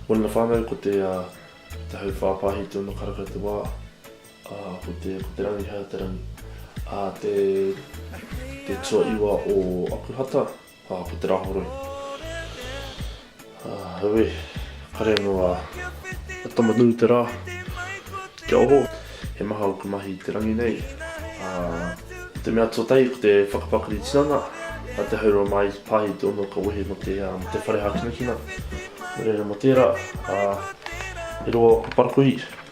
Mō na whānau ko te hau whāpāhi tōna kara kau te wā, ā, ko te ko te rangi hau te rangi. Ā te te tuaiwa o Akuhata, ā, ko Te Rahoroi. Aue, kare noa a tama nui te ra, kia oho, he maha oku mahi i te rangi nei, a, ko te mea tuatahi ko te whakapakari tinana, a te haurua mai i pahi te ono ka wehe mo te, mo te whare hakinakina, no reira mo tera, a, e roa oku parakuihi.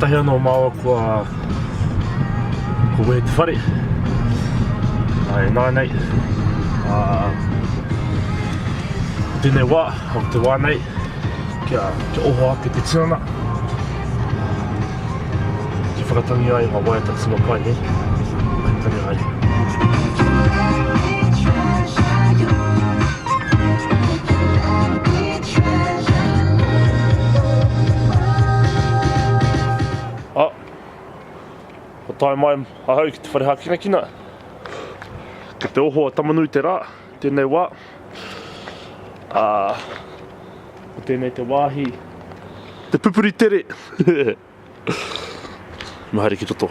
Kotahi anō māua kua kua wehe te whare. Ai, nā nei, ā, ko tēnei wā, ko te wā nei, kia, kia oho ake te tinana. Kia whakatangi ai ngā waiata tima pai, he? Hai tari haere. Ah, kua tae mai ahau ki te whare hākinakina. Kei te oho a Tamanui te rā. Tēnei wā, ā, ko tēnei te wāhi, te pupuri tere! Me haere ki to tō.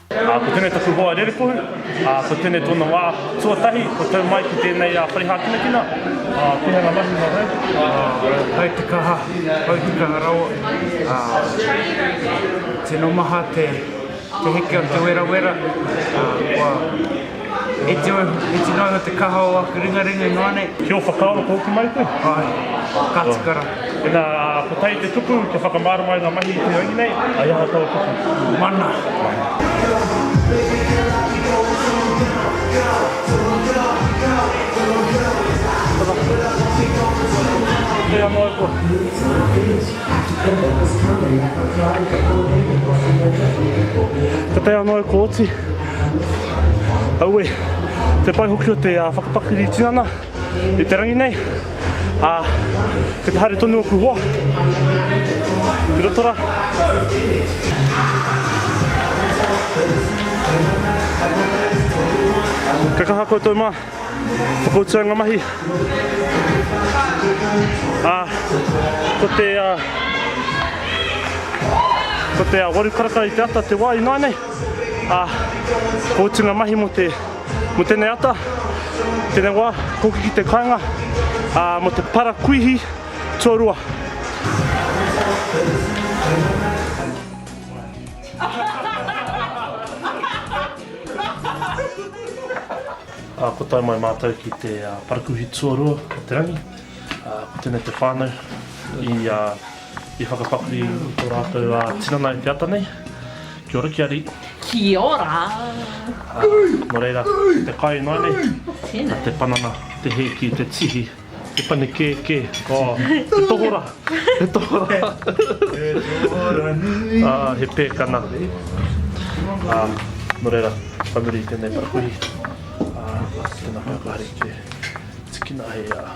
Ā, ko tēnei taku hoa rerekohu, ā, ko tēnei tōna wā tuatahi, kua tau mai ki tēnei ā, parihākinakina. Ā, pēhea ngā mahi mō rāua? Ā, kai te kaha, kai te kaha rawa, ā, tino maha te, te heke o te werawera, ā, kua. E tino, e tino ingoa te kaha o aku ringaringa inoa nei. Ki o whakaaro ko hoki mai koe? Ae, ka tika ra. Ina ko tai te tuku kia whakamārama i nga mahi i te rangi nei, ai aha tau tuku? Mana. Auē, te pai hoki o te whakapakiri tinana i te rangi nei. Ā, kei te haere tonu ōku hoa ki roto rā. Kia kaha koutou mā, whakautua ngā mahi. Ā, ko te, ko te waru karaka i te ata te wā ināianei. ā, ko utu ngā mahi mō te, mō tēnei ata, tēnei wā, koki ki te kāinga, ā, mō te parakuihi tuarua. Ā, kua tae mai mātou ki te parakuihi tuarua o te rangi, ā, ko tēnei te whānau i, ā. I whakapakari to ratou a tinana e te ata nei. Kia ora kia ri. Kia ora. No reira, te kai noa nei. Tena. Te panana, te heki, te tihi, te panikeke. Oh, te tohora. Te tohora. Te tohora nui. Ah, he pekana. Ah, no reira, ka muri i tenei parakuihi. Ah, tena kai koe hari te tikina hei ah.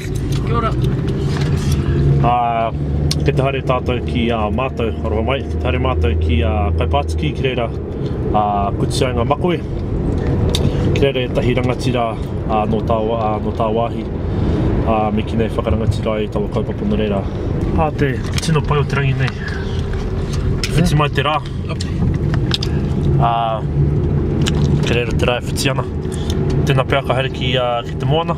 Kia ora. Ā, kei te haere tātou ki a mātou, aroha mai, kei te haere mātou ki a Kaipātiki ki reira a Kutiaenga Makoe, ki reira ētahi rangatira ā, nō tā, ā, nō tāwāhi, ā, me kīnei i whakarangatira ai taua kaupapa nō reira. Ā te tino pai o te rangi nei, i whiti mai te rā, ā, kei reira te rā e whiti ana, tēnā pea ka haere ki, ā, ki te moana.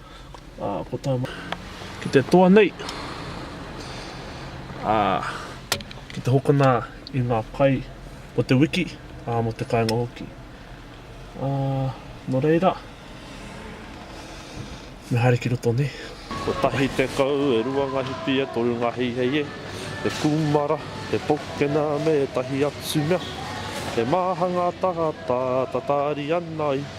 Ā, ko tā. Ki te toa nei, ā, ki te hokona i ngā pae o te wiki, ā, mō te kāinga hoki. Ā, nō reira, me haere ki roto nei. Kotahi tekau, e rua ngā hipi, e toru ngā heihei, e kūmara, e pokena me ētahi atu mea. He māhanga tangata, tatari ana i.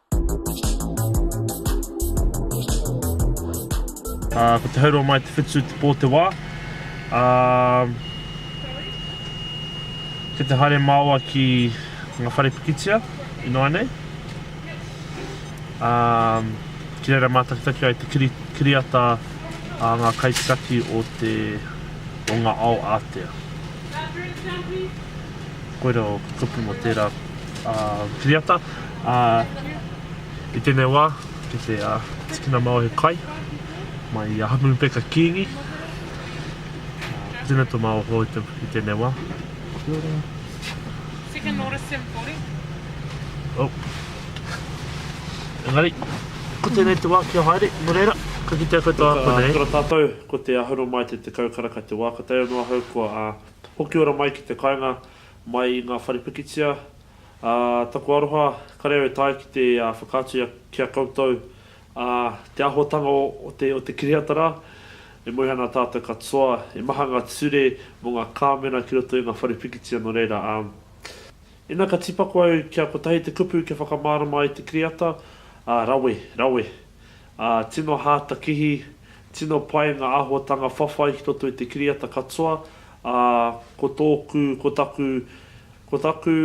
Ā, ko Te Haurua Mai Te Whetū te pō te wā. Ā, kei te haere māua ki ngā whare pikitia ināianei. Ā, ki reira mātakitaki ai te kiri, kiriata a ngā kaitiaki o te, o ngā ao ātea. Koira o ka kupu mo tera kiriata i tenei wa ki te tikina mau he kai mai i a Hamuhupeka Kingi tena to mau ho i tenei wa engari ko tenei te wa kia haere no reira ka kitea koutou a konei. Kia ora tatou, ko te Ahuromai te tekau karaka te wa ka tae ono ahau kua. Hoki ora mai ki te kainga mai i nga whare pikitia, a taku aroha kare au e tae ki te whakaatu ia ki a koutou, a te ahotanga o te o te kiriata ra, e moe ana tatou katoa, e maha nga ture mo nga kamera ki roto i nga whare pikitia no reira a. Ina ka tipako au kia kotahi te kupu kia whakamarama ai te kiriata, a rawe, rawe. Ā, tino hātakihi, tino pai ngā āhuatanga whawhai ki roto i te kiriata katoa, ā, ko tōku, ko taku, ko taku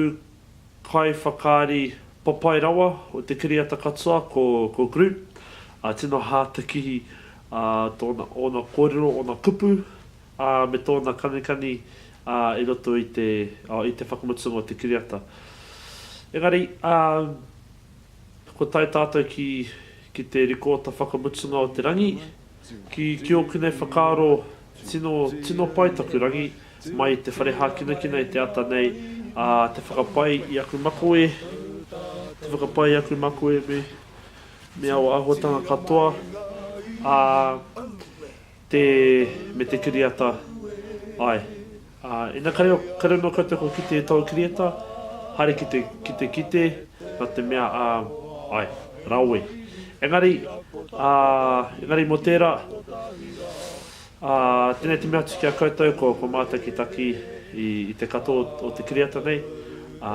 kaiwhakaari papai rawa o te kiriata katoa ko, ko Groot, ā, tino hātakihi, ā, tōna, ōna kōrero, ōna kupu, ā, me tōna kanikani, ā, i roto i te, ā, i te whakamutunga o te kiriata. Engari, ā, Kua tae tātou ki, ki te rikoata whakamutunga o te rangi, ki, ki ōku nei whakaaro, tino, tino pai taku rangi, mai i te whare hākinakina i te ata nei, ā, te whakapai i aku makoe, te whakapai i aku makoe me, me aua āhuatanga katoa, ā, Te, me te kiriata, ae. Ā, ina kare, kare anō koutou kua kite e tōu kiriata, haere ki te, ki te kite, nā te mea, ā, ae, rawe. Engari, ā, engari mō tērā, ā, tēnei te mea atu ki a koutou, ko, ko mātou ki taki i, i te katoa o, o te kiriata nei, ā,